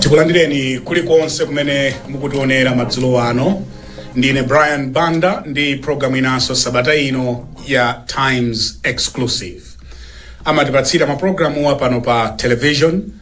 tikulandireni kulikonse kumene mukutionera madzulo ano ndine brian banda ndi programu inanso sabata ino ya times exclusive amatipatsira mapulogalamuwa pano pa television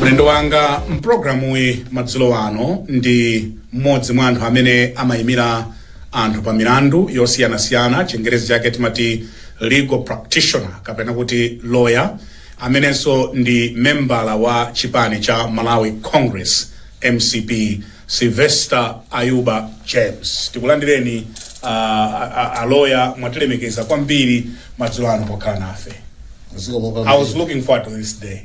mlendo wanga mpulogalamuyi madzulo ano ndi mmodzi mwa anthu amene amayimira anthu pa milandu yosiyanasiyana chingerezi chake timati legal practitioner kapena kuti lawyer amenenso ndi membala wa chipani cha malawi congress mcp Sylvester Ayuba James, tikulandireni a, a, a, a lawyer mwatilemekeza kwambiri madzulo ano pokhala nafe. Zikomo I was kwambiri. looking forward to this day.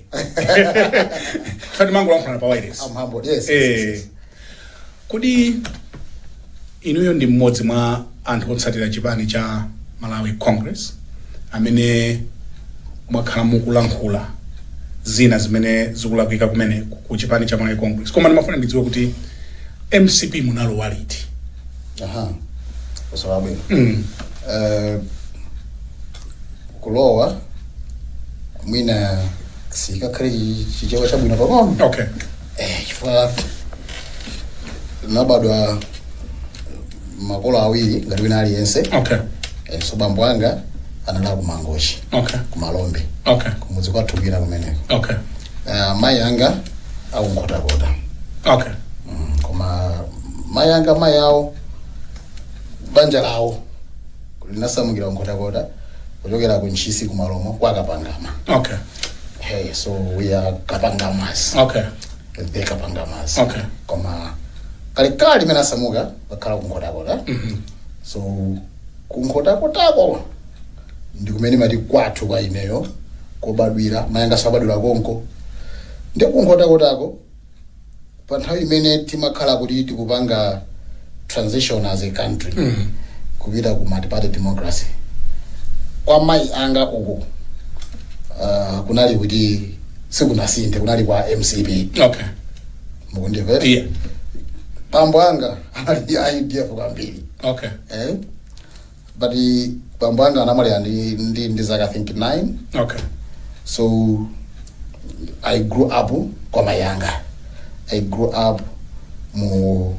Timangolankhulana pa wireless. I'm humbled. Yes. yes, yes, Eh, yes. kodi Inuyo ndi mmodzi mwa anthu otsatira chipani cha Malawi Congress amene mwakhala mukulankhula zina zimene zikulakwika kumeneko ku chipani cha Malawi Congress. Koma ndimafuna ndidziwe kuti mcp munalowa liti? Aha. Funso labwino. Mm. Uh, kulowa mwina sikakhale chichewa chabwino pang'ono. Okay. eh, chifukwa nabadwa makolo awiri ngati wina aliyense okay eh, so bambo anga anali akumangochi okay kumalombe okay kumudzi kwathu kwina kumeneko okay uh, mayi anga akunkhotakota okay mm, koma mayi anga mayi awo banja lawo linasamukira kunkhotakota kuchokera ku ntchisi kumalomo kwa kapangama okay hey, so we are kapangamas okay the kapangamas Okay. koma kalekale mmene asamuka akhala kunkhotakota so kunkhotakotako ndi kumene ndimati kwathu kwa ineyo kobadwira mayanganso abadwira konko ndi kunkhotakotako pa nthawi imene timakhala kuti tikupanga transition as a country kupita ku multiparty democracy kwa mayi anga uku uh, kunali kuti sikunasinthe kunali kwa mcp okay mukundimvera yeah bambo anga anali ndi udf kwambiri okay eh? but bambo anga anamwalira ndi ndi ndi zaka i think 9 okay so i grew up kwa mayi anga i grew up mu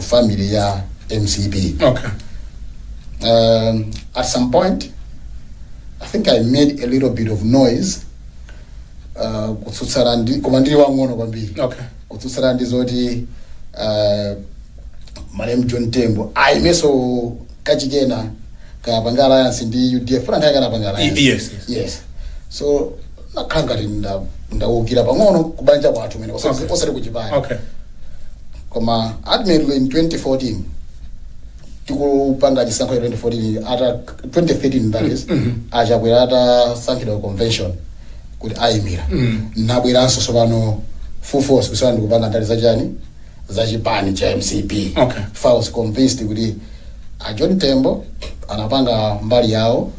family ya mcp okay um, at some point i think i made a little bit of noise uh, kutsutsana ndi koma ndili wang'ono kwambiri okay kutsutsana ndi zoti uh, malemu john tembo ayimeso kachikena kapange alliance ndi udf funa akanapanga alliance Y- yes, yes. yes so nakhala ngati nda- ndawukira pang'ono kubanja kwathu mene osati Okay. osati kuchipani okay koma admittedly in 2014 tikupanga chisankho cha 2014 kaya 2013 that is achakwera atasankhidwa convention kuti ayimira ndinabweranso tsopano full force kuyamba ndikupanga ndale zachani zachipani cha mcp Okay. I was convinced kuti a john tembo anapanga mbali yawo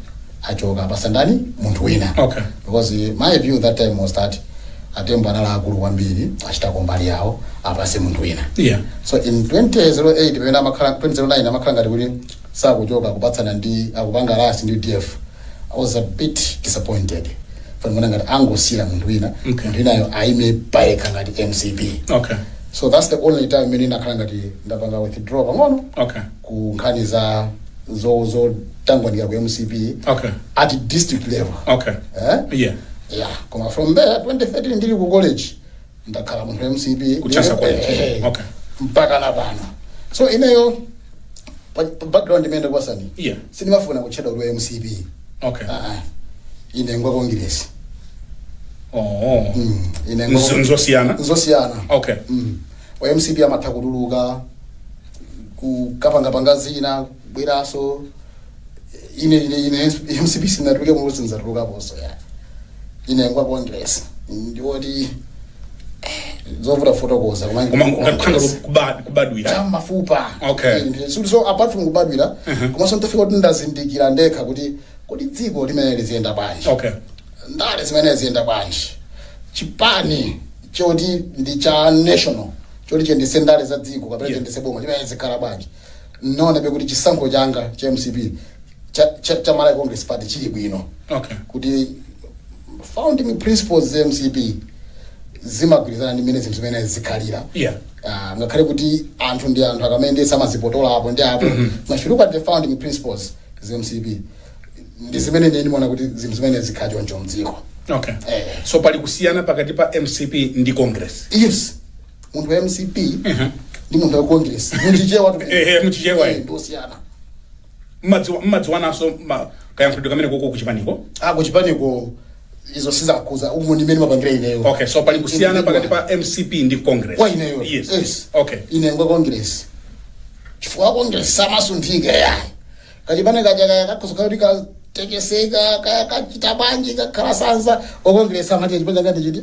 achoke apase ndani munthu wina Okay. because my view that time was that atembo anali akulu kwambiri achitako mbali yawo apase munthu wina Yeah. so in 2008 pamene amakhala 2009 amakhala ngati kuti sakuchoka akupatsana ndi akupanga alliance ndi udf I was a bit disappointed ndimaona ngati angosiyira munthu wina Okay. munthu winayo aime payekha ngati mcp okay so that's the only time imene ndinakhala ngati ndapanga withdraw pang'ono okay ku nkhani za zo zotangwanika ku mcp okay at district level okay eh? yeah yeah koma from there 2013 ndili ku college ndakhala munthu wa mcp Kuthandiza kwa mcp. Eh, Okay. mpaka napano so ineyo pa pa background imene kwambiri Yeah. sindimafuna kutchedwa kuti wa mcp okay Ah, ah. ine ngwa congress oh Mm, ine ngwa- Nzo- nzosiyana nzosiyana okay Mm. wa mcp amatha kutuluka kukapangapanga zina kubweraso ine ine ine mcp sindinatulukemo sindizatulukaponso ya ine ngwa congress ndiwoti zovuta kufotokoza koma ngati ndi kubad- kubadwira cha m'mafupa Okay. Inde, so- so apart from kubadwira komanso nditafika kuti ndazindikira ndekha kuti kodi dziko limene liziyenda bwanji okay ndale zimene ziyenda bwanji chipani choti ndi cha national choti chiyendetse ndale za dziko kapena Yes. chiyendetse boma chimene chizikhala bwanji Ndinaonabe kuti chisankho changa cha mcp cha, cha, cha Malawi Congress Party chili bwino Okay. kuti founding principles za mcp zimagwirizana ndi mmene zinthu zimene zizikhalira Yeah. Ah, ngakhale kuti anthu ndi anthu akamayendetsa amazipotoza apo ndi apo koma still the founding principles za mcp ndi zimene ine ndimaona kuti zinthu zimene zizikhala choncho mdziko Okay. Eh. So pali kusiyana pakati pa MCP ndi Congress. yes munthu wa mcp ndi munthu wa congress muchichewa tu- Eh, eh, muchichewa, eh. Eh, ndosiyana Mumadziwa- mumadziwananso ma- kayankhulidwe kamene koko kuchipaniko ako kuchipaniko izo sizakudza umo ndi mmene ndimapangira ineyo okay so pali kusiyana pakati pa mcp ndi congress kwa ineyo yes, yes. okay ine ngwa congress chifukwa congress samasunthika ya kachipane kaja kaya kakhoza kuti katekeseka kaya kachita bwanji kakhala sanza wa congress amati chipani changa ndi chiti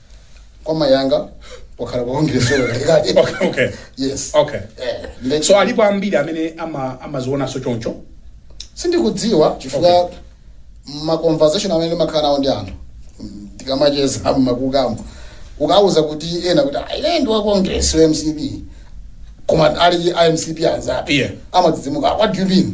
kwa mai anga wakhala wa congress okay okay yes okay Eh, nde- so alipo ambiri amene ama- amazionanso choncho sindikudziwa chifukwa ma conversation amene ndimakhala nawo ndi anthu mm, tikamacheza mmakukamo ukawauza kuti ena kuti "Ah, ine ndi wa congress wa mcp koma ali a mcp anzatu Yeah. amadzidzimuka what do you mean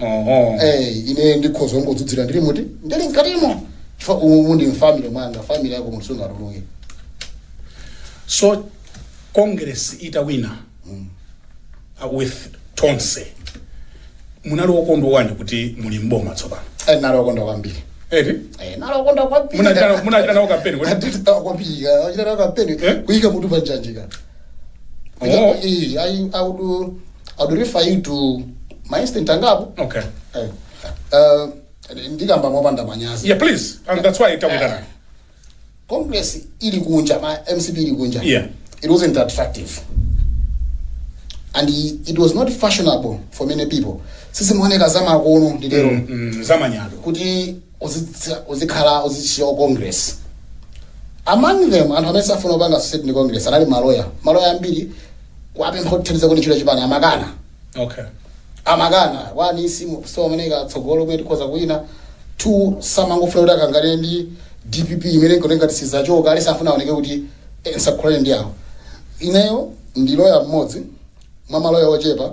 Oho. Eh, ine ndikhoza kungodzudzula ndili muti ndili mkatimo chifukwa umu ndi mfamily mwanga family yako munthu sungatuluke So Congress itawina uh, with Tonse. Munali okondwa wanji kuti muli mboma tsopano. Eh, ndinali wokondwa kwambiri Eti? Eh, ndinali wokondwa kwambiri Munachita munachita nawo kampeni kuti Tinachita kwambiri tinachita nawo kampeni Eh? kuyika mutu pa njanji Ina- iyi, ayi, I would, uh, I would refer you to my instant angapo okay Eh, eh, ndikamba mopanda manyazi yeah please and that's why takuitana congress ili kunja ma mcp ili kunja Yeah. it wasn't attractive and i- it was not fashionable for many people sisimuoneka zamakono nditero Mm, zamanyado kuti uzitsa- uzikhala uzichita za congress among them anthu amene samafuna kupanga associate ndi congress anali maloya maloya ambiri ukawapempha kuthandiza kuti ntchito chipani amakana okay amakana one simaoneka tsogolo kumene tikhoza kuwina two samangofuna kuti akagwire ndi dpp imene imaoneka ngati sizachoka ndiye safuna aoneke kuti eh, ndikulankhulana ndi awo ineyo ndi loya mmodzi mwa maloya ochepa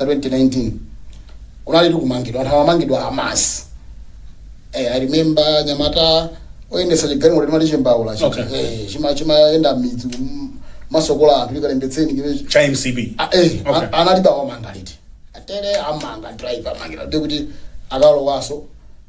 2019 kunalitu kumangidwa anthu amamangidwa en masse eh, i remember anyamata oyendetsa chigalimoto timati chimbaula chi- Okay. eh, chima- chimayenda mmidzi kum- kumasonkhezera anthu kuti kalembetseni kive cha mcp Ah, eh, Okay. an- analipo anawamanga liti atele amanga driver amangira ndikuti akalowaso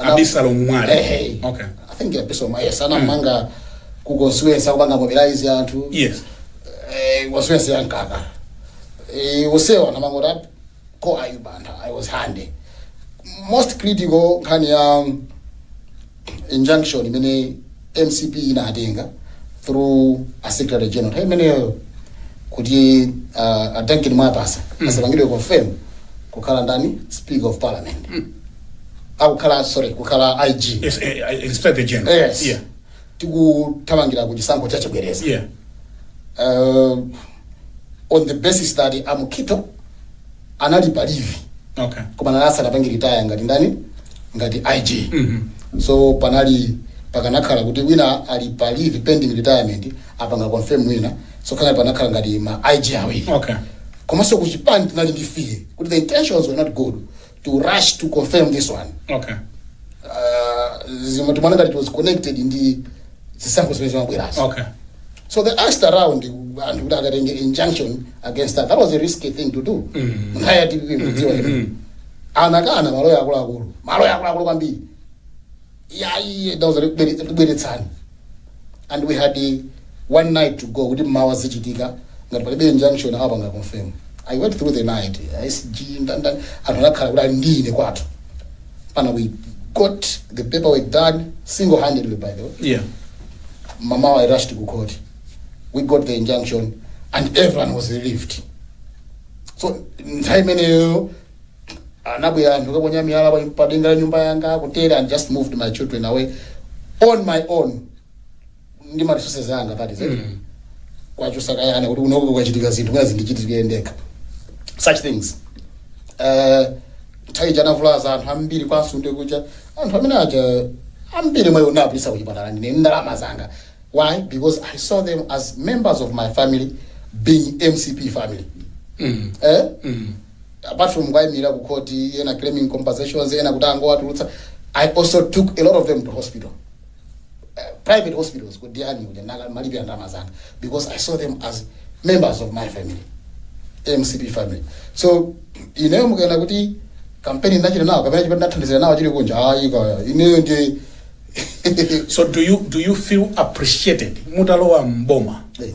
Ana- abisalomu mwale Ehe. okay I think episode ma yes anamanga ku constituency akupanga mobilize anthu yes eh constituency ya Nkaka eh usewa anamanga kuti ko akuba anthu I was handy most critical nkhani ya um, injunction imene MCP inatenga through secretary general nthawi imeneyo kuti uh, a Duncan Mwapasa asapangidwe confirm kukhala ndani speaker of parliament akukhala sorry kukhala ig Yes, eh, eh, Inspector General. yes Yeah. tikuthamangira ku chisankho cha chibwereza Yeah. uh, on the basis that a Mukhito anali pa leave Okay. koma anali asanapange retire ngati ndani ngati ig Mhm. so panali pakanakhala kuti wina ali pa leave pending retirement apanga confirm wina so kanakhala ngati ma ig awiri Okay. komanso kuchipani tinali ndi fear kuti the intentions were not good to rush to confirm this one okay uh, zimene timaona ngati it was connected ndi zisankho zimene zimabwerazo okay so they asked around anthu kuti kukatenga injunction against that that was a risky thing to do nthawi ya dpp mudziwa anakana maloya akuluakulu maloya akuluakulu kwambiri yayi ndauza ndibweretsereni and we had eh, one night to go kuti mmawa zichitika ngati palibe injunction awapanga confirm i went through the night sg ndanda anthu amakhala kuti ali ndi ine kwathu pano we got the paperwork done single handedly by the way yeah mmawa i rushed ku court we got the injunction and everyone was relieved so nthawi imeneyo anabwera anthu kukaponya miyala pa- pa denga la nyumba yanga kutere and just moved my children away on my own ndi ma resources anga that is it Mm. kuwachotsa ka ana kuti kunoko kukachitika zinthu mwina zindichitikire ndekha such things Eh, nthawi ija anavulaza anthu ambiri kwanso ndi kuja anthu amene aja ambiri mwa iwo ndinapititsa kuchipatala ndine ndalama zanga why because i saw them as members of my family being mcp family Mm. eh? Mm. apart from kuwayimirira ku court ena claiming compensations ena kuti angowatulutsa i also took a lot of them to hospital uh, private hospitals ku diani uja ndaka- malibe ya ndalama zanga because i saw them as members of my family mcp family so ineyo mukanena kuti kampeni ndinachita nawo kapena chipati ndathandizira nawo chili kunja ayi kaya ineyo ndi so do you do you feel appreciated mutalowa mboma Eh.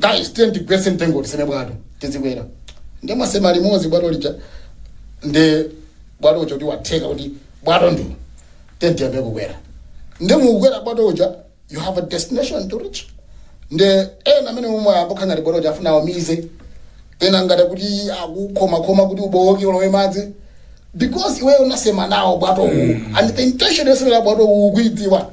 guys tiyeni tigwetse mtengo tiseme bwato tizikwera nde mwasema limodzi bwato lija nde bwato uja kuti watheka kuti bwato ndi uwu tiyeni tiyambe kukwera nde mukukwera bwato uja you have a destination to reach nde ena amene omwe apanga ngati bwato uja akufuna awumize ena ngati kuti akukhomakhoma kuti ubowoke ulowe madzi because iweyo unasema nawo bwato uwu and the intention yosemera bwato uwu ukuidziwa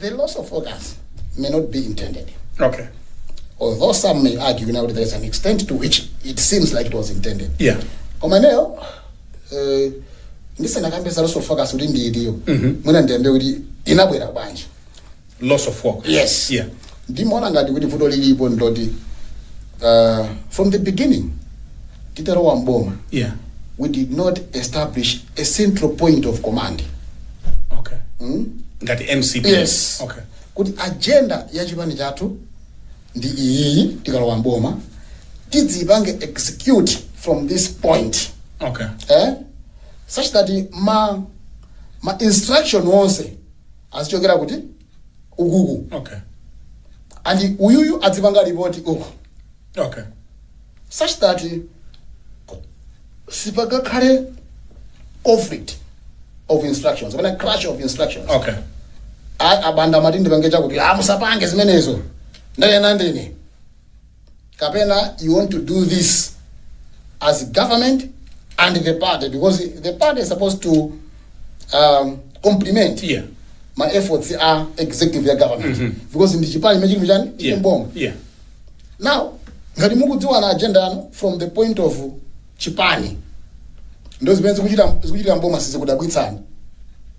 The loss of focus may not be intended. Okay. Although some may argue now that there is an extent to which it seems like it was intended. Yeah. Koma ineyo eh, ndisanakambe za loss of focus kuti ndi itiyo mwina ndiyambe kuti inabwera bwanji Loss of focus. Yes. Yeah. Ndimaona ngati kuti vuto lilipo ndiloti uh, from the beginning titalowa mboma yeah we did not establish a central point of command okay mm? ngati mcp yes okay kuti agenda ya chipani chathu ndi iyiyi tikalowa mboma tidzapange execute from this point okay eh? such that ma, ma instruction onse azichokera kuti ukuku okay and uyuyu adzipanga lipoti uku okay such that sipakakhale conflict of instructions kapena clash of instructions okay A- abanda amati ndipange chakuti amusapange zimenezo ndanena ndine kapena you want to do this as government and the party because the party is supposed to um, complement Yeah. ma efforts a executive ya government because ndi chipani chimene chili chiyani Yeah. m'boma Yeah. now ngati mukudziwana agenda yanu from the point of chipani nde zimene zikuchita zikuchitika m'boma sizikudabwitsani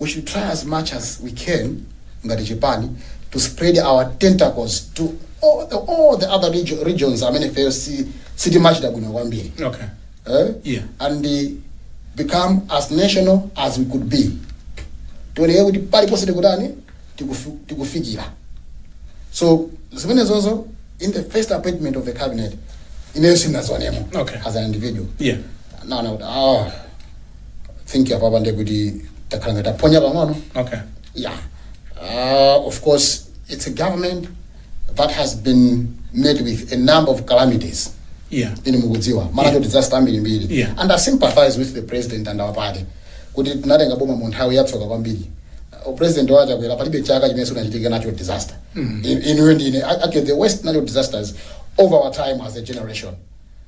we should try as much as we can ngati chipani to spread our tentacles to all the, all the other regio- regions amene ifeyo si- sitimachita bwino kwambiri okay eh? Yeah. and uh, become as national as we could be tioneke kuti paliponse tikutani tikufi- tikufikira so zimenezo in the first appointment of the cabinet ineyo sindinazionemo Okay. as an individual yeah naona kuti ah, think apapa nde kuti takhala ngati taphonya pang'ono okay yeah uh, of course it's a government that has been met with a number of calamities yeah ine mukudziwa ma natural disaster ambirimbiri Yeah. and i sympathize with the president and our party kuti tinatenga boma mu nthawi yatsoka kwambiri Uh, president Chakwera palibe chaka chimene sinachitika nacho disaster In- inuyo ndi ine actually the worst natural disasters over our time as a generation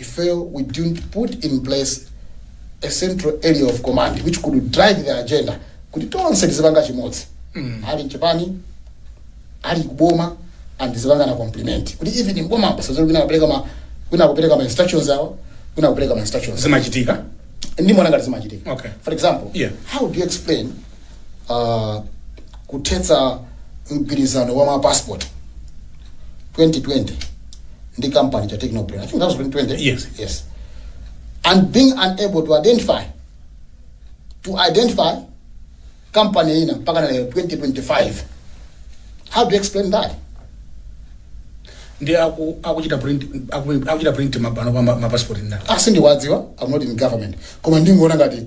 Ifeyo we didn't put in place a central area of command which could drive the agenda kuti tonse tizipanga chimodzi ali mchipani ali kuboma and tizipangana complement kuti even m'boma pasadzakhale wina kupereka ma wina kupereka ma instructions awo wina kupereka ma instructions zimachitika ndi mwana ngati zimachitika Okay. for example Yeah. how do you explain uh, kuthetsa mgwirizano wa mapassport 2020 ndi kampani ya technobrain i think that was 2020 Yes. yes and being unable to identify to identify company ina mpaka na lero 2025 how do you explain that ndi aku- akuchita print aku- akuchita print ma pano pa ma- mapasipoti ndani sindiwadziwa i'm not in government koma ndingoona ngati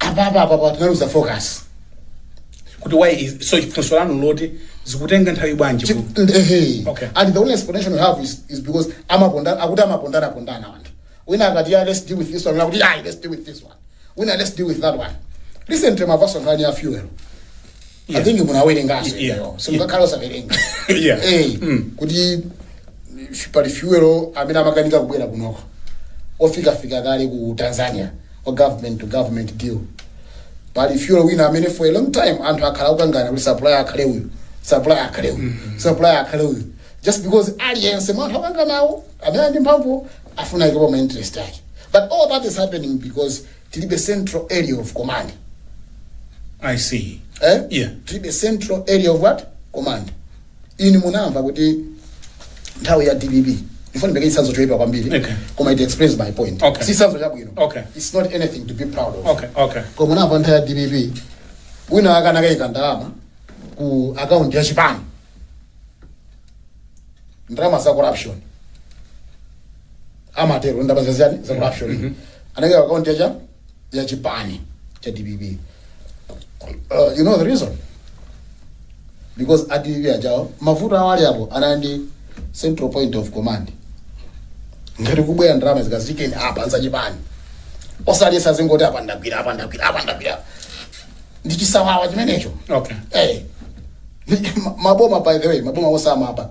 apa apa apa apa tinaluza focus kuti why is it so funso lanu loti zikutenga nthawi bwanji Chi- ku- and, eh, hey. Okay. and the only explanation we have is, is because amaponda akuti amapondana pondana anthu wina akati yeah, let's deal with this one akuti ayi let's deal with this one wina let's deal with that one recently mwamvanso nkhani ya fuel I Yeah. think munawerengaso Yeah. imeneyo simungakhale osawerenga Yeah. Eh, Mm. kuti f- pali fuelo amene amakanika kubwera kunoko ofika kale ku tanzania wa government to government deal pali fuelo wina amene for a long time anthu akhala akukanganirana kuti supplier akhale uyu supplier akhale uyu supplier akhale uyu just because aliyense mwa anthu akanganawo amene ali ndi mphamvu afuna aikepo ma interest ake but all that is happening because tilibe central area of command I see. eh? Yeah. tilibe central area of what command inu munamva kuti nthawi ya dpp ndifuna ndipeke chitsanzo choyipa kwambiri Okay. koma it explains my point Okay. si chitsanzo chabwino Okay. it's not anything to be proud of Okay, okay. koma munamva nthawi ya dpp wina akaika akayika ndalama ku akaunti ya chipani ndalama za corruption amatero ndalama za chiyani za corruption anenge akaunti ya cha ya chipani cha dpp uh, you know the reason because a dpp ali nawo mavuto awo ali apo anali ndi central point of command ngati kubwera ndalama zikaikeni apa nzachipani osati azingoti apa ndagwira apa ndagwira apa ndagwira ndi chisawawa chimenecho okay Eh. Ni- ma- maboma by the way maboma onse amaba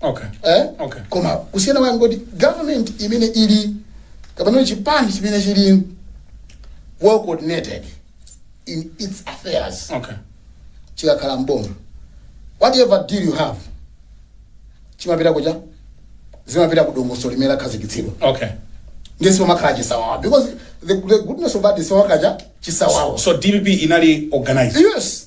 okay eh? Okay. koma kusiyana kwake nkuti government imene ili kapena chipani chimene chili well coordinated in its affairs okay chikakhala mboma whatever deal you have chimapita ku zimapita ku dongosolo limene lakhazikitsidwa okay ndiye sipamakhala chisawawa because the, the goodness of that is sipamakhala chisawawa so dpp inali organized yes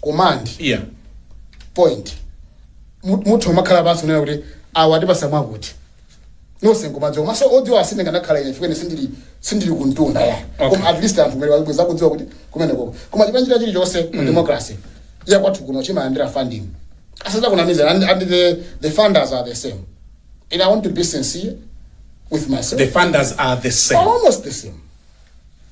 command iya point Mu- muthu umakhala pansi kunena kuti awa atipasa mwakuti nonse nkumadziwa maso odziwa asine nganakhala ine chifukwa ine sindili sindili kumtunda yeah Okay. koma at least anthu ngati bweza kudziwa kuti kumene koko koma chipani china chilichonse mu democracy ya kwathu kuno chimalandira funding asadzakunamizeni and, and the, the funders are the same and i want to be sincere with myself the funders are the same almost the same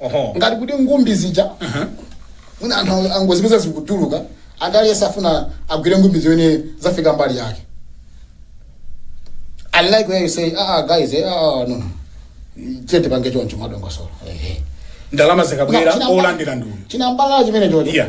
Oho. ngati kuti ngumbi zija mwina anthu ang- angozipeza zikutuluka anthu aliyense afuna agwire ngumbi zimene zafika mbali yake I like where you say, ah, ah, guys, eh, ah, ah, no, no. Tiyeni tipange choncho mwadongosolo. Eh, eh. ndalama zikabwera olandira ndi uyu chinambala chimene choti Yeah.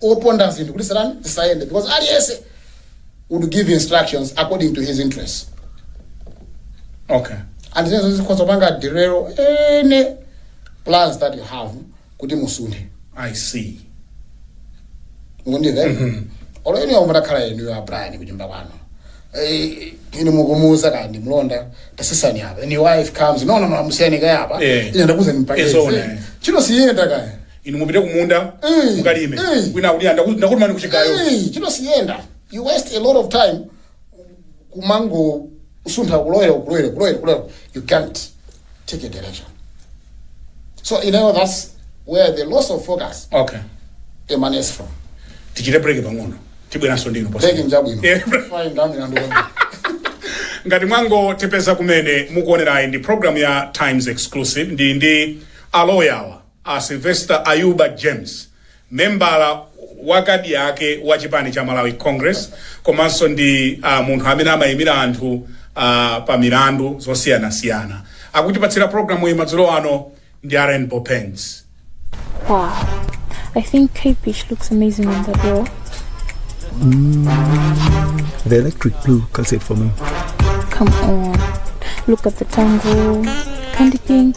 opanga zinthu kuti zitani zisayende because aliyense would give instructions according to his interests okay and zimenezo zikhoza kupanga derail any plans that you have kuti musunthe i see mukundimva olo ine omwe takhala inu ya brian kunyumba kwanu Eh, ine mukumuuza kaya ndi mlonda tasesani apa and your wife comes no no no musiyani kaya apa Eh. ine ndakuuza It's all nimpakeze right. chino siyenda kaya inu mupite kumunda Mm. mukalime Mm. wina akuti "Anda- ndakutumani kuchigayo Hey, ntchito siyenda you waste a lot of time kumangosuntha kuloyera kuloyera kuloyera kuloyera you can't take a direction so you know that's where the loss of focus okay emanates from tichite break pang'ono tibweranso ndinu posachedwa. break yabwino Yeah. fine ndami nandu ngati mwangotipeza kumene mukuonerayi ndi program ya times exclusive ndili ndi aloyawa A Sylvester Ayuba James, membala wa kadi ake wa chipani cha Malawi Congress komanso ndi munthu amene amayimira anthu pa milandu yosiyanasiyana akutipatsira program iyi madzulo ano ndi a Rainbow Paints. Wow. I think capish looks amazing on the door. The electric blue cuts it for me. Come on. Look at the tango. Candy pink.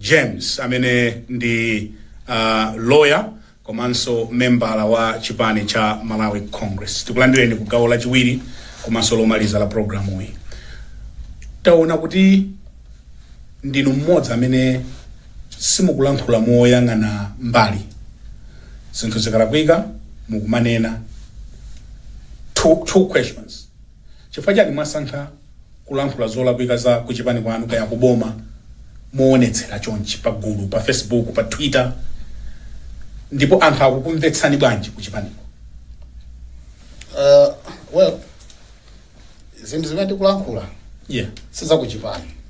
James amene ndi a lawyer komanso membala wa chipani cha Malawi Congress. Tikulandireni ku gawo lachiwiri komanso lomaliza la programu iyi. Taona kuti ndinu mmodzi amene simukulankhula moyang'ana mbali, zinthu zikalakwika mukumanena. Two, two questions. Chifukwa chani mwasankha kulankhula zolakwika za kuchipani kwanu kaya kuboma mowonetsera chonchi pagulu, pa Facebook, pa Twitter ndipo anthu akukumvetsani bwanji kuchipaniko? Aaa well zinthu zimene tikulankhula Yeah. sizakuchipani.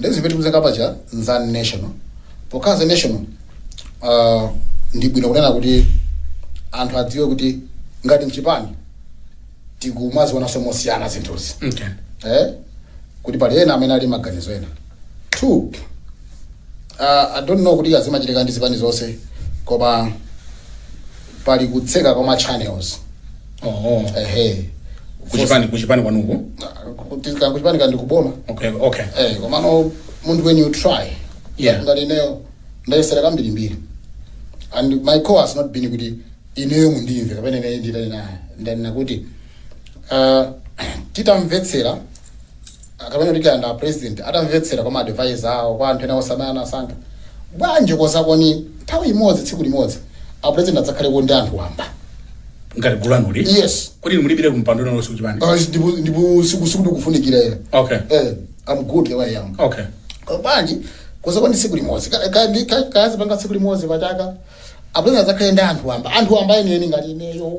Nde zimene tikuzenga paja ndi za national pokhala za national uh, ndi bwino kunena kuti anthu adziwe kuti ngati mchipani tikumazionanso mosiyana zinthuzi okay. eh? kuti pali ena amene ali ndi maganizo ena two uh, i don't know kuti zimachitika ndi zipani zonse koma pali kutseka kwa ma channels Oho. ehe Kuchipani kuchipani kwanuko. kutseka kuchipani ndi kuboma Okay, okay. eh komano munthu when you try Yeah. ngati ineyo ndayesera kambirimbiri and my call has not been kuti ineyo mundimve kapena ineyo nditaonana naye ndanena kuti uh, titamvetsera Kapena kuti kaya ndi a president atamvetsera kwa ma advisor awo, kwa anthu ena onse amene anasankha, bwanji osakonza nthawi imodzi, tsiku limodzi a president adzakhaleko ndi anthu wamba? Ngati gulu lanuli? Yes. Kodi inu mulibiretu kumpando wina uliwonse kuchipani? Uh, ndipo ndipo siku siku ndikufunikira ena. Okay. Eh, I'm good the way I am. Okay. Uh, bwanji osakonza tsiku limodzi. Ka- ka- ndi- ka- Kazipanga tsiku limodzi pachaka. A president adzakhale ndi anthu wamba. Anthu wamba enieni ngati ineyo.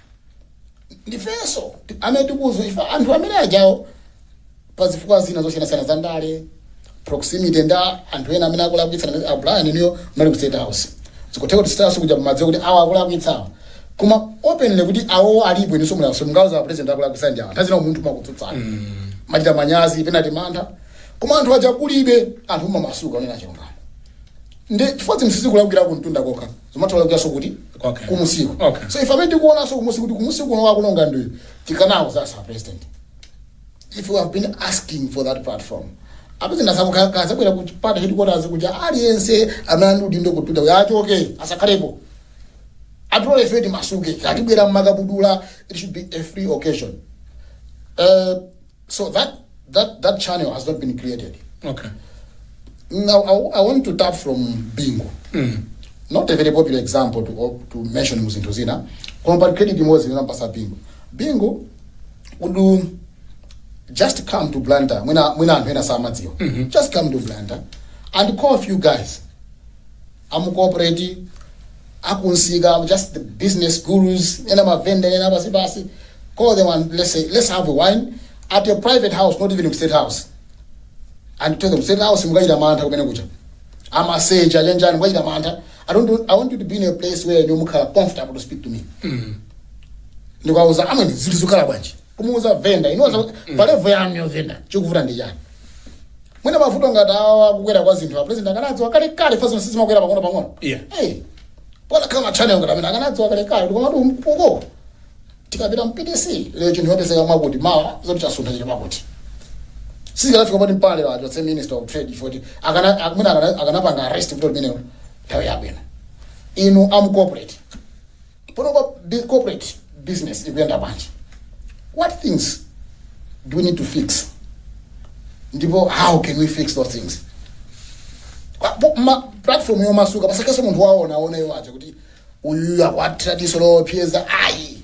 ndifenso ti- amene tikuuzidwa ife anthu amene ajawo pa zifukwa zina zosiyanasiyana za ndale proximity ndi anthu ena amene akulakwitsana ndi abrian inuyo muli ku state house zikutheka kuti state house kuja mumadziwa kuti awa akulakwitsawa koma openly kuti awo alipo inunso mulipo simungauza a president akulakwitsana ndi awa nthawi zina munthu mukutsutsana mumachita manyazi pena timantha koma anthu aja kulibe anthu mumamasuka onena chilungamo ndi chifukwa zinthu sizikulakwira kumtunda kokha zimatholakwikanso kuti Okay. kumunsiko Okay. so ife amene tikuonanso kumunsi kuti kumunsi kuno akuononga ndiyo tikanawauza a president if you we have been asking for that platform a president azabwere ku party headquarters kuti aliyense amene ali ndi udindo kuchita kuti achoke asakhalepo atione ife timasuke tibwere mmakabudula it should be a free occasion Eh, So that that that channel has not been created. Okay. Now I, I want to tap from Bingo. Mm. Not a very popular example to to mention muzinthu zina. Koma pali credit imodzi ndinapasa Bingo. Bingo would do just come to Blantyre. Mwina mwina anthu ena samadziwa. Just come to Blantyre and call a few guys. amu corporate, akunsika, just the business gurus, ena ma vendor, ena apasi pasi, call them and let's say, let's have a wine at a private house, not even in state house. And tell them, state house, mukachita mantha kumene kucha. Amaseja, chenjani, mukachita mantha. I don't do, I want you to be in a place where you mukhala comfortable to speak to me. Ndikawauza, amene, zinthu zikhala bwanji. kumuuza venda inunso pa level yanuyo venda chikuvuta ndi chani mwina mavuto ngati awa kukwera kwa zinthu a president akanadziwa kale kale chifukwa zinthu sizimakwera pang'ono pang'ono Yeah. hey pokhala ma channel ngati amene akanadziwa kale kale koma tu mphuko tikapita mu PDC lero chinthu chikupezeka mwakuti mawa zoti chasuntha chili mwakuti sizikanafika poti mbale wathu the minister of trade choti akanakumana akanapanga arrest vuto limenelo nthawi yabwino inu a corporate Panopa bi- corporate business ikuyenda bwanji? What things do we need to fix? Ndipo how can we fix those things? Kwa- pa- pa platform yomasuka pasakhalenso munthu waona aona iwo aja kuti uyuyu akuwathira diso lopseza ayi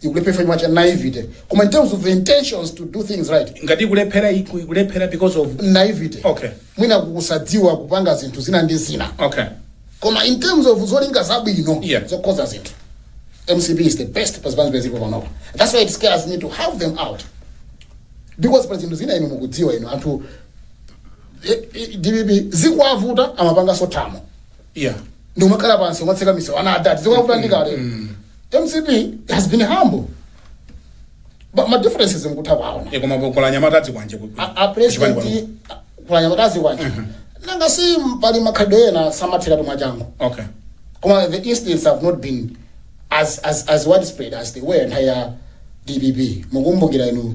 ikulephera chifukwa cha naivete koma in terms of the intentions to do things right ngati ikulephera iku- ikulephera because of naivete Okay. mwina kusadziwa kupanga zinthu zina ndi zina okay koma in terms of zolinga zabwino Yeah. zokonza zinthu mcp is the best pazipani zimene zilipo panopa that's why it scares me to have them out because pa zinthu zina inu mukudziwa inu anthu eh, eh, dpp zikawavuta amapanganso thamo yeah ndikumakhala pansi kumatseka miso ana adati zikumavuta ndi kale mcp has been humble but ma differences mukutha kuwaona e koma kuli anyamata a zikwanje ku- A- a kuchipani kwanu. president kuli anyamata a zikwanje nanga si pali makhalidwe ena samatheratu mwachangu okay koma the incidents have not been as, as, as widespread as they were nthawi ya dpp mukumbukira inu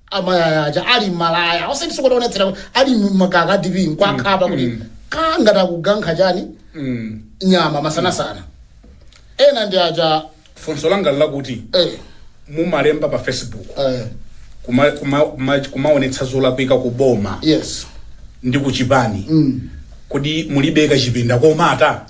amalaya aja ali mmalaya osati sikuti onetsera kuti ali mmakaka a dpp nkuwakhapa kuti mm. ka ngati akukankha chani Mm. nyama masanasana ena ndi aja funso langa ndi lakuti eh, mumalemba pa facebook eh, kuma- kuma- kuma- kumaonetsa zolakwika ku boma yes ndi ku chipani mm. kodi mulibe kachipinda komata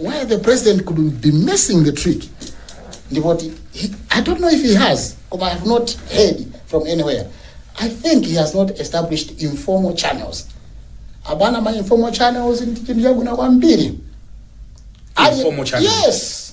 where the president could be missing the trick ndipoti he, i don't know if he has koma i have not heard from anywhere i think he has not established informal channels abana ma informal channels ndi chinthu chabwino kwambiri Ali- Informal channels. yes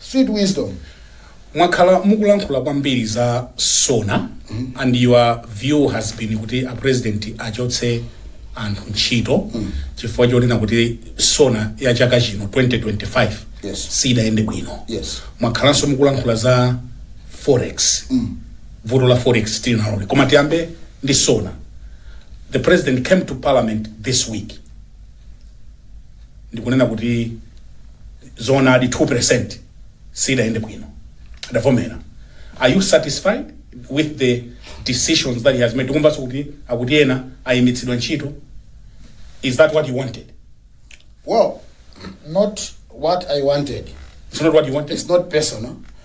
Sweet wisdom. mwakhala mukulankhula kwambiri za sona and your view has been kuti a president achotse anthu ntchito chifukwa chonena kuti sona ya chaka chino 2025 Yes. siidayende bwino Yes. mwakhalanso mukulankhula za forex vuto la forex tili nalobe koma tiyambe ndi sona the president came to parliament this week ndikunena kuti zoonadi 2% siidayende bwino adavomera are you satisfied with the decisions that he has made tikumvanso kuti akuti ena aimitsidwa ntchito is that what you wanted Well, not what I wanted. it's not what you wanted It's not personal.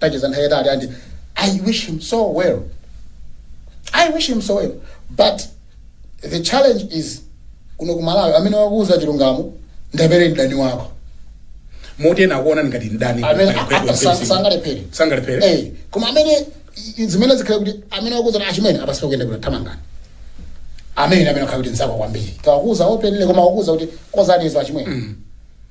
tacheza nthawi yatali and i wish him so well i wish him so well but the challenge is kuno ku malawi amene wakuuza chilungamo ndiye mdani wako moti ena akuona ngati mdani amene a- Mike a- Webster sa- Mcp. sangalephere sangalephere Eh, koma amene i- zimenezi khala kuti amene wakuuza achimwene apa sizikuyenda thamangani amene amene akhala kuti nzako kwambiri kawakuuza openly koma wakuuza kuti kozani izo achimwene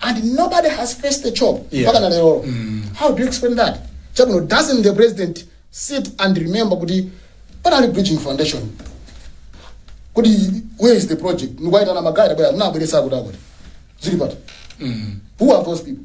and nobody has faced the chop Yeah. mpaka na lero how do you explain that chabwino doesn't the president sit and remember kuti panali bridging foundation kuti where is the project ndikuwaitana magari bwera munabweretsa akuti akuti zili pati who are those people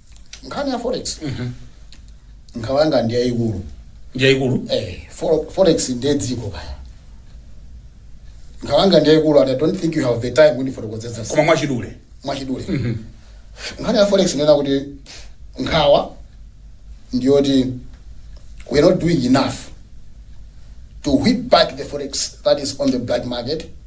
nkhani ya forex nkhawa yanga ndi yayikulu njayikulu eh, fo- forex ndiye dziko kaya nkhawa yanga ndi yayikulu and i don't think you have the time kuti ndifotokozetse koma mwachidule mwachidule nkhani ya forex nena kuti nkhawa ndiyoti we're not doing enough to whip back the forex that is on the black market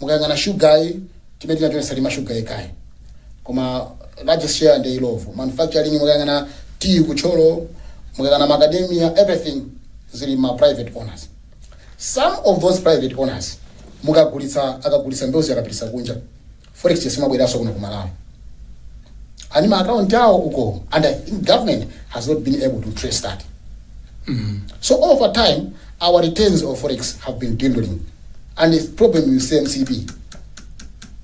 Mukayang'ana sugar yi chimene tinachonesa ndi ma sugar yekhayi koma largest share ndi Illovo manufacturing mukayang'ana tea ku Thyolo mukayang'ana macadamia everything zili mma private owners some of those private owners mukagulitsa akagulitsa mbewuzi akapititsa kunja forex exchange simabwereranso kuno ku Malawi ali ndi ma account awo uko and I think government has not been able to trace that so over time our returns of forex have been dwindling and this problem with mcp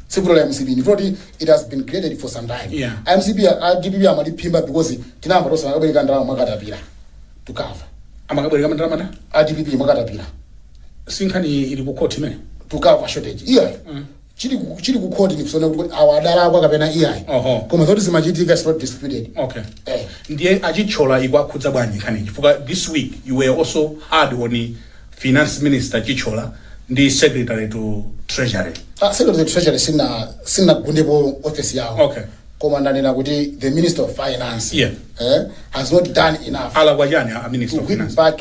sikuti ndi la mcp ndi kuti it has been created for some time Yeah. A mcp a- a dpp amaliphimba because tinamva tonse akabwereka ndalama mwakatapira to cover amakabwereka mandalama a dpp mwakatapira sinkhani ili ku court imene to cover shortage iyi chili ku chili ku court ni kuona kuti awa adalakwa kapena iyayi Oho. koma zoti zimachitika is not disputed okay eh ndiye achitchola ikuwakhudza bwanji nkhani chifukwa this week you were also hard on finance minister chitchola ndi secretary to treasury Ah, secretary of treasury sina sinagundepo office yawo Okay. koma ndanena kuti the minister of finance Yeah. eh, has not done enough alakwa chani a minister to of win finance back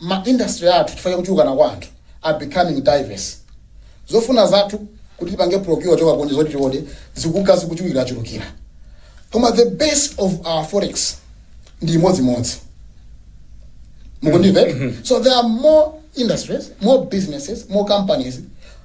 ma industry athu chifukwa cha kuchulukana kwa anthu are becoming diverse. Zofuna zathu kuti tipange procure kuchoka kunja zoti tiode zikunka zikuchulukirachulukira. Koma the base of our forex ndi imodzimodzi. Mukundimvera? So there are more industries, more businesses, more companies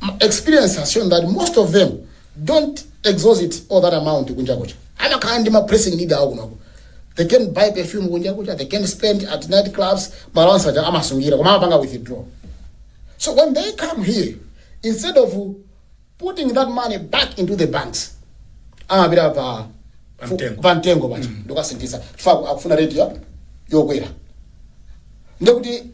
My experience has shown that most of them don't exhaust all that amount kunja kuja. Amakhala ndi ma pressing needs awo kunoko. They can buy perfume kunja kuja, they can spend at night clubs, balance aja amasungira koma amapanga withdraw. So when they come here, instead of putting that money back into the banks, amapita pa Pa mtengo. pa mtengo paja ndikukasinthitsa chifukwa akufuna rate yokwera ndiye kuti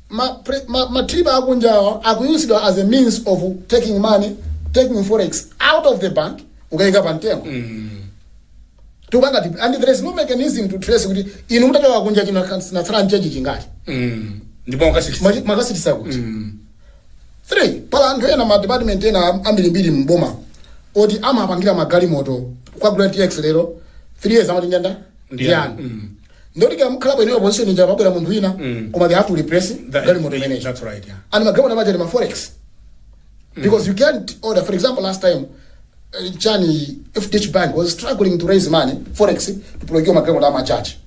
ma pre, ma, ma trip akunjawa akuyusidwa as a means of taking money taking forex out of the bank kukaika pa mtengo tikupanga tip and there is no mechanism to trace kuti inu mutachoka kunja china chinatsala nchenji chingati Mm. ndipo makasiti Mwachi- makatsitsa kuti pali anthu ena ma department ena am- ambirimbiri mboma oti amapangira magalimoto kwagula tx lero three years amati njakutha Ndiyani. ndiyani ndiye kuti kaya mukhala bwino position ija pabwera munthu wina koma they have to replace That- galimoto imeneyi that's right, yeah. and magalimoto amadya ndi ma forex because you can't order for example last time uh, chani fdh bank was struggling to raise money forex to procure magalimoto a ma judge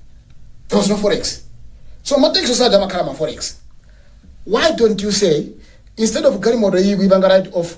there was no forex so ma TX onse aja amakhala ma forex why don't you say instead of galimoto iyi kuipanga write off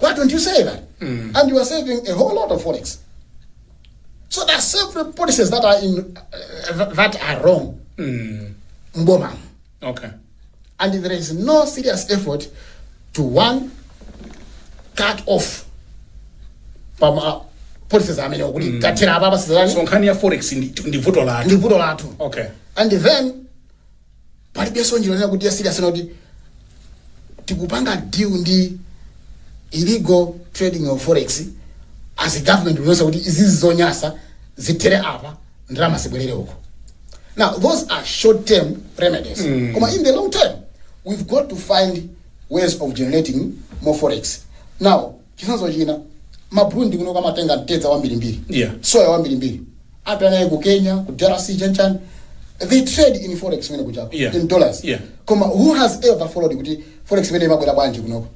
Why don't you say that? And you are saving a whole lot of forex. So there are several policies that are in uh, that are wrong. Mboma. okay and there is no serious effort to one cut off pama policies amene kuti tathera apa so basically nkhani ya forex ndi ndi vuto lathu ndi vuto lathu okay and then palibenso njira yonena kuti ya serious yoti tikupanga deal ndi illegal trading of forex as a government kuonetsa kuti izizi zonyasa zithere apa ndalama zibwerere uko now those are short term remedies koma in the long term we've got to find ways of generating more forex now Chitsanzo china, ma Burundi kunoko amatenga mtedza wambirimbiri, Yeah. soya wambirimbiri, apita naye ku Kenya, ku DRC, chani chani. They trade in forex kumeneko chako, Yeah. in dollars. Yeah. Koma who has ever followed kuti forex imene imabwera bwanji kunoko?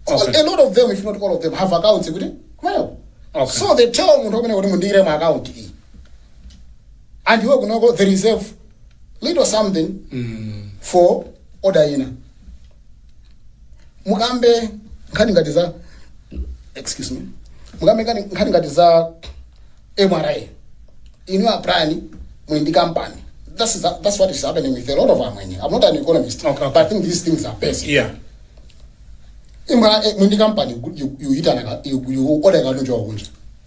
Okay. A lot of them, if not all of them, have accounts kuti kumeneko. Okay. So they tell munthu kumene kuti mundiikire mu account iyi. And iwe kunoko they reserve little something for order ina. mukambe nkhani ngati za excuse me mukambe nkhani nkhani ngati za MRA inu aprani muli ndi kampani that's, that, that's what is happening with a lot of amwenye i'm not an economist Okay, okay. but i think these things are basic yeah MRA muli ndi kampani you, you, you, you, you order katundu wakunja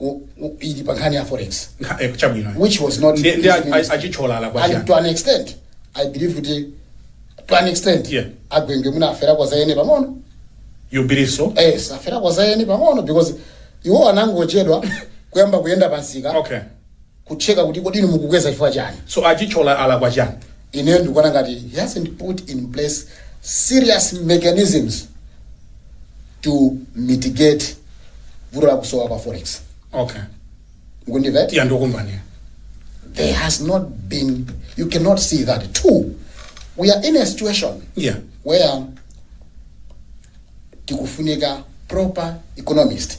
i- i- ili pa nkhani ya forex Nkha- eh, chabwino which was not Ndi- ndi a- a- a Chithyola alakwa chiyani? to an extent i believe kuti to an extent Yeah. a Gwengwe mwina afera kwa zayene pang'ono you believe so yes aferako za eni pang'ono because iwo anangochedwa kuyamba kuyenda pansika okay kutcheka kuti kodi inu mukukweza chifukwa chani so a Chithyola alakwa chani ine ndikuona ngati he hasn't put in place serious mechanisms to mitigate vuto la kusowa kwa forex okay mukundimva tiya ndikumbaniya there has not been you cannot see that too we are in a situation yeah where tikufunika proper economist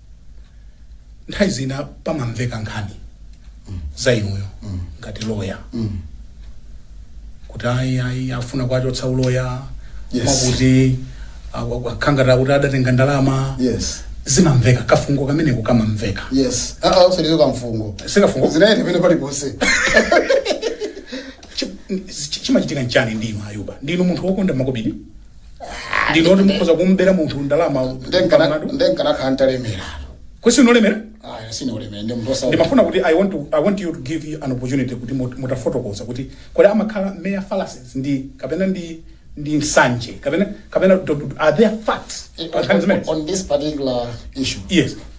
nthawi zina pamamveka nkhani za inuyo ngati loya kuti ayi ayi afuna kuwachotsa uloya Yes. akuti akhala ngati kuti adatenga ndalama yes zimamveka kafungo kameneko kamamveka yes aa usalizo kamfungo sikafungo zinayenda pena paliponse Chi- chi- chimachitika nchani ndinu ayuba ndinu munthu wokonda makobidi ndinu oti mukhoza kumubera munthu ndalama pamlandu nde nkanakhala ntalemera kwesi ndinu olemera ayi sindine olemera ndi munthu osa ndimafuna kuti I want, to, i want you to give you an opportunity kuti mut- mutafotokoza kuti kodi amakhala mere fallacies ndi kapena ndi ndi nsanje kapena kapena do- do- are there facts on, on, on this particular issue yes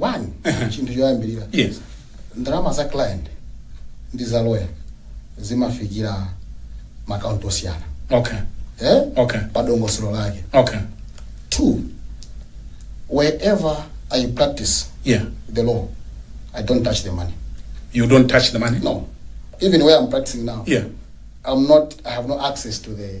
one chinthu choyambirira yes ndalama za client ndi za lawyer zimafikira mma akaunti osiyana okay eh? Okay. pa dongosolo lake okay two wherever i practice yeah the law i don't touch the money you don't touch the money no even where i'm practicing now yeah i'm not i have no access to the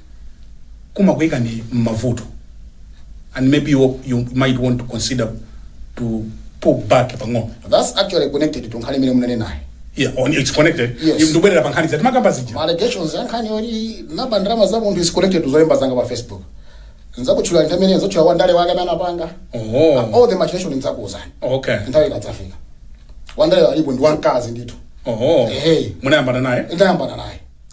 kumakuikani mmavuto and maybe you you might want to consider to pull back pang'ono That's actually connected to nkhani imene munanenayo. yeah on it's connected Yes. ndikubwerera pa nkhani zati makamba zija Ma allegations ya nkhani yoti naba ndalama za munthu is connected to zolemba zanga pa Facebook. Nzakutchula nthawi imene ndzatchula wa ndale wake amene anapanga. oh All the machination nzakuuzani. okay Nthawi ikadzafika. Wa ndale alipo ndi wamkazi ndithu. oh Ehe. munayambana naye Ndayambana naye.